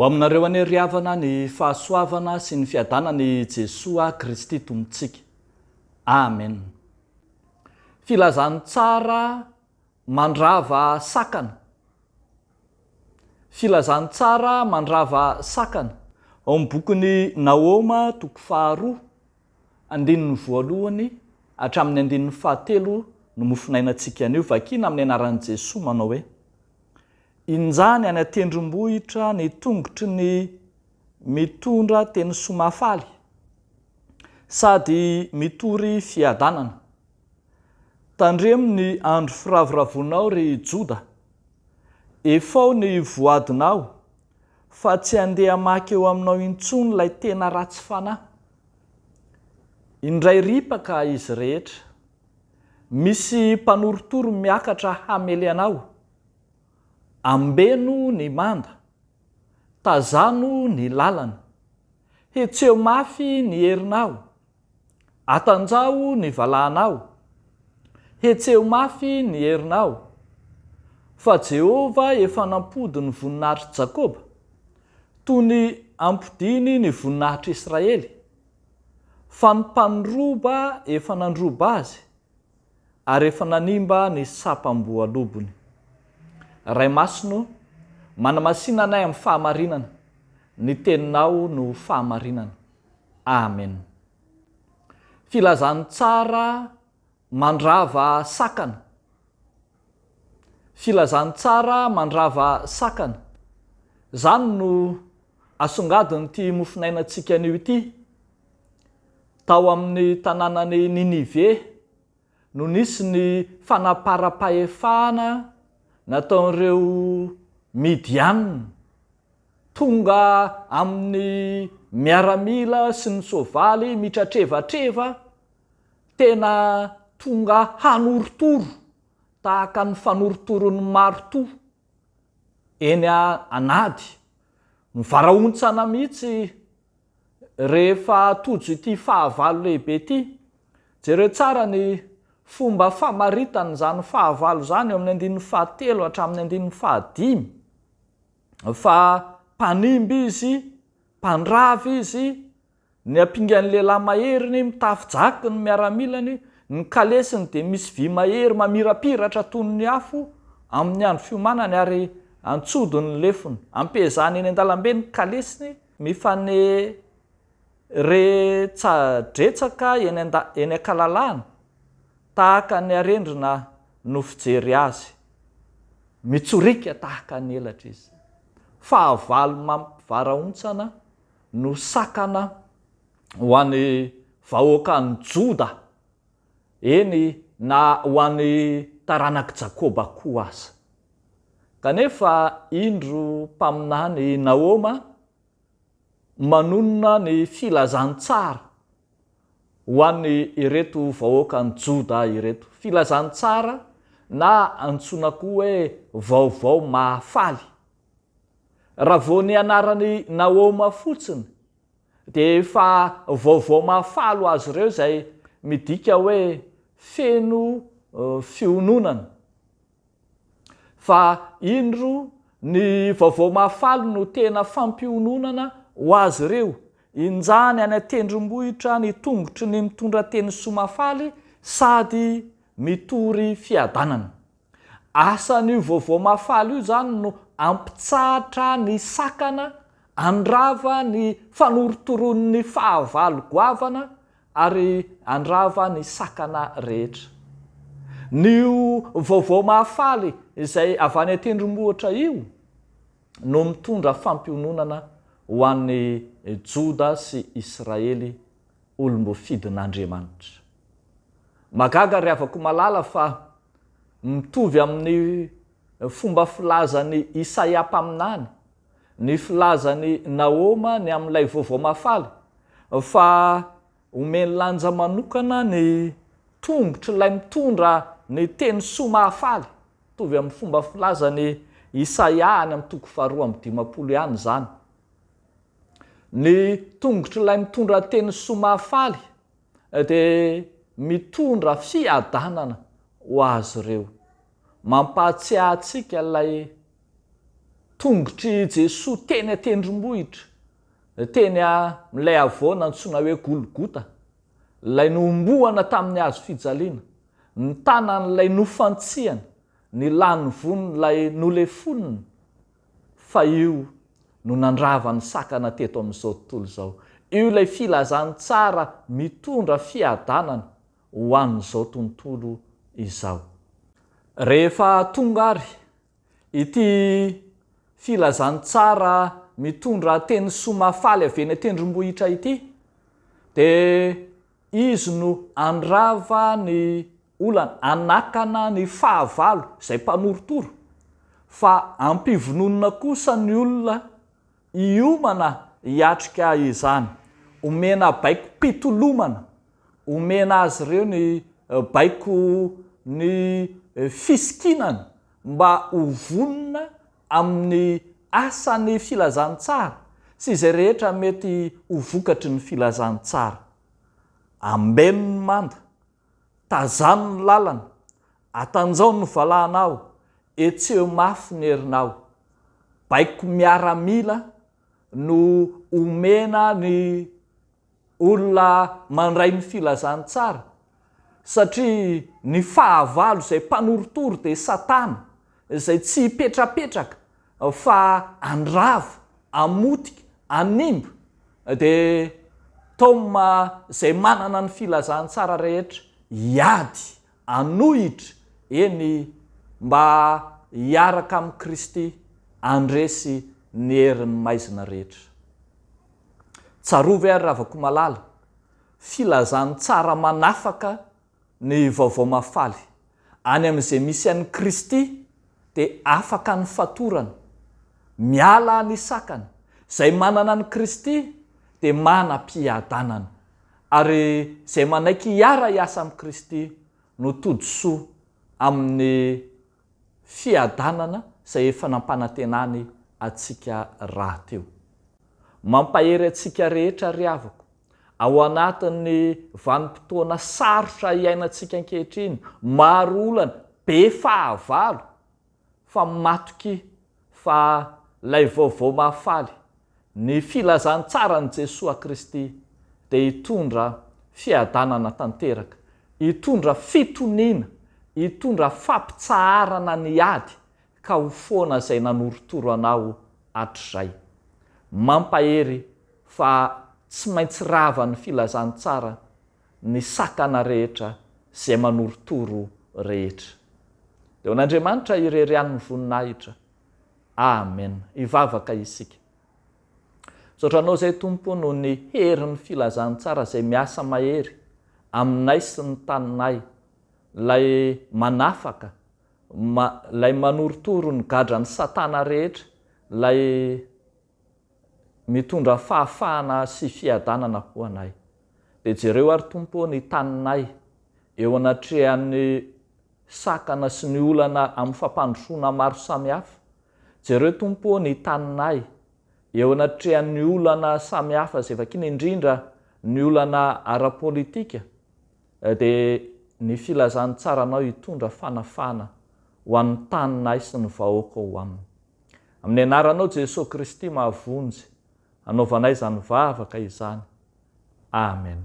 Ho aminareo anie ry havana ny fahasoavana sy ny fiadanan'i Jesoa Kristy Tompontsika. Amen. Filazantsara Mandrava sakana. Filazantsara mandrava sakana ao amin'ny bokin'i Nahoma toko faharoa, andininy voalohany hatramin'ny andininy fahatelo no mofonainantsika anio, vakina amin'ny anaran'i Jesoa manao hoe, Injany any an-tendrombohitra ny tongotry ny mitondra teny soa mahafaly sady mitory fiadanana. Tandremo ny andro firavoravoanao ry Joda, efao ny voadinao fa tsy handeha hamaky eo aminao intsony ilay tena ratsy fanahy. Indray ripaka izy rehetra. Misy mpanorotoro miakatra hamely anao. Ambeno ny manda. Tazano ny lalana. Hetseho mafy ny herinao Atanjaho ny valahanao, Hetseho mafy ny herinao, Fa Jehovah efa nampody ny voninahitr'i Jakoba, Toy ny ampodiany ny voninahitr'i Israely. Fa ny mpandroba efa nandroba azy, Ary efa nanimba ny sapam-boalobony. Ray Masina ô, manamasina anay amin'ny fahamarinana, Ny teninao no fahamarinana. Amen. Filazantsara mandrava sakana. Filazantsara mandrava sakana. Zany no asongadin'ity mofonainantsika anio ity. Tao amin'ny tananan'i Ninive. no nisy ny fanaparam-pahefana nataon'ireo Midianina. Tonga amin'ny miaramila sy ny soavaly mitratrevatreva, tena tonga hanorotoro tahaka ny fanorotoroan'ny maritoa eny an'ady, mivarahontsana mihitsy. Rehefa tojo ity fahavalo lehibe ity, jereo tsara ny fomba famaritana izany fahavalo izany eo amin'ny andininy fahatelo hatramin'ny andininy fahadimy, fa mpanimby izy, mpandrava izy, ny ampingan'ny lehilahy maheriny, mitafy jaky ny miaramilany, ny kalesiny dia misy vy mahery mamirapiratra toy ny afo amin'ny andro fiomanany ary antsodiny ny lefony, ampihezahany eny an-dalambe ny kalesiny, mifaneretsadretsaka eny an-da eny an-kalalahana tahaka ny arendrina no fijery azy. Mitsoriaka tahaka ny elatra izy. Fahavalo mampivarahontsana no sakana ho an'ny vahoakan'i Joda eny, na ho an'ny taranak'i Jakoba koa aza. Kanefa indro mpaminany i Nahoma manonona ny filazantsara ho an'ireto vahoakan'i Joda ireto, filazantsara na antsoina koa hoe vaovao mahafaly. Raha vao ny anaran'i Nahoma fotsiny Dia efa vaovao mahafaly ho azy ireo izay midika hoe feno fiononana. Fa indro ny vaovao mahafaly no tena fampiononana ho azy ireo, Injany any an-tendrombohitra ny tongotry ny mitondra teny soa mahafaly sady mitory fiadanana. Asan'io vaovao mahafaly io izany no hampitsahatra ny sakana, handrava ny fanorotoroan'ny fahavalo goavana ary handrava ny sakana rehetra. Ny io vaovao mahafaly izay avy any an-tendrombohitra io no mitondra fampiononana ho an'i Joda sy Israely olom-boafidin'Andriamanitra. Mahagaga ry havako malala fa mitovy amin'ny fomba filazan'i Isaia mpaminany ny filazan'i Nahoma ny amin'ilay vaovao mahafaly fa omeny lanja manokana ny tongotr'ilay mitondra ny teny soa mahafaly. Mitovy amin'ny fomba filazan'i Isaia any amin'ny toko faharoa amby dimampolo ihany izany. Ny tongotr'ilay mitondra teny soa mahafaly dia mitondra fiadanana ho azy ireo. Mampahatsiahy antsika ilay tongotr'i Jesoa teny an-tendrombohitra, teny amin'ilay havoana antsoina hoe Golgota, ilay nohomboana tamin'ny hazo fijaliana, ny tanan'ilay nofantsihana, ny lany von'ilay nolefonina. Fa io no nandrava ny sakana teto amin'izao tontolo izao. Io ilay filazantsara mitondra fiadanana ho an'izao tontolo izao. Rehefa tonga ary ity filazantsara mitondra teny soa mahafaly avy eny an-tendrombohitra ity dia Izy no handrava ny olana, hanakana ny fahavalo, izay mpanorotoro, fa ampivononina kosa ny olona hiomana hiatrika izany. Omena baikom-pitolomana, omena azy ireo ny baikon'ny fisikinana mba ho vonona amin'ny asan'ny filazantsara sy izay rehetra mety ho vokatry ny filazantsara. Ambeno ny manda, tazano ny lalana, atanjao ny valahanao, etseho mafy ny herinao. Baiko miaramila no omena ny. olona mandray ny filazantsara, satria ny fahavalo izay mpanorotoro dia Satana, izay tsy hipetrapetraka fa handrava, hamotika, hanimba, dia Tom izay manana ny filazantsara rehetra hiady anohitra, eny, mba hiaraka amin'i Kristy handresy ny herin'ny maizina rehetra. Tsarovy ary Ravakomalala, filazan'ny tsara manafaka ny Vaovao Mahafaly, any amin'izay misy an'i Kristy dia afaka ny fatorana, miala ny sakana, izay manana an'i Kristy dia manam-piadanana, Ary izay manaiky hiara-hiasa amin'i Kristy no tody soa amin'ny fiadanana izay efa nampanantenany antsika rahateo. Mampahery antsika rehetra ry havako, ao anatin'ny vanim-potoana sarotra iainantsika ankehitriny, maro olana, be fahavalo, fa matoky fa lay vaovao mahafaly, ny filazantsaran'i Jesoa Kristy dia hitondra fiadanana tanteraka, hitondra fitoniana, hitondra fampitsaharana ny ady ka ho foana izay nanorotoro anao hatrizay. Mampahery fa tsy maintsy ravan'ny filazantsara ny sakana rehetra sy izay manorotoro rehetra. Dia ho an'Andriamanitra irery ihany ny voninahitra. Amen. Hivavaka isika. Misaotra Anao izay Tompo noho ny herin'ny filazantsara izay miasa mahery aminay sy ny taninay, ilay manafaka, ilay manorotoro ny gadran'i Satana rehetra, ilay Mitondra fahafahana sy fiadanana ho anay. Dia jereo ary Tompo ô ny taninay eo anatrehan'ny sakana sy ny olana amin'ny fampandrosoana maro samihafa. Jereo Tompo ô ny taninay eo anatrehan'ny olana samihafa izay vakiana indrindra ny olana ara-politika Dia ny filazan'ny tsaranao hitondra fanafahana ho an'ny taninay sy ny vahoakao ho aminy. Amin'ny anaranao Jesoa Kristy mahavonjy, anaovanay izany vavaka izany. Amen.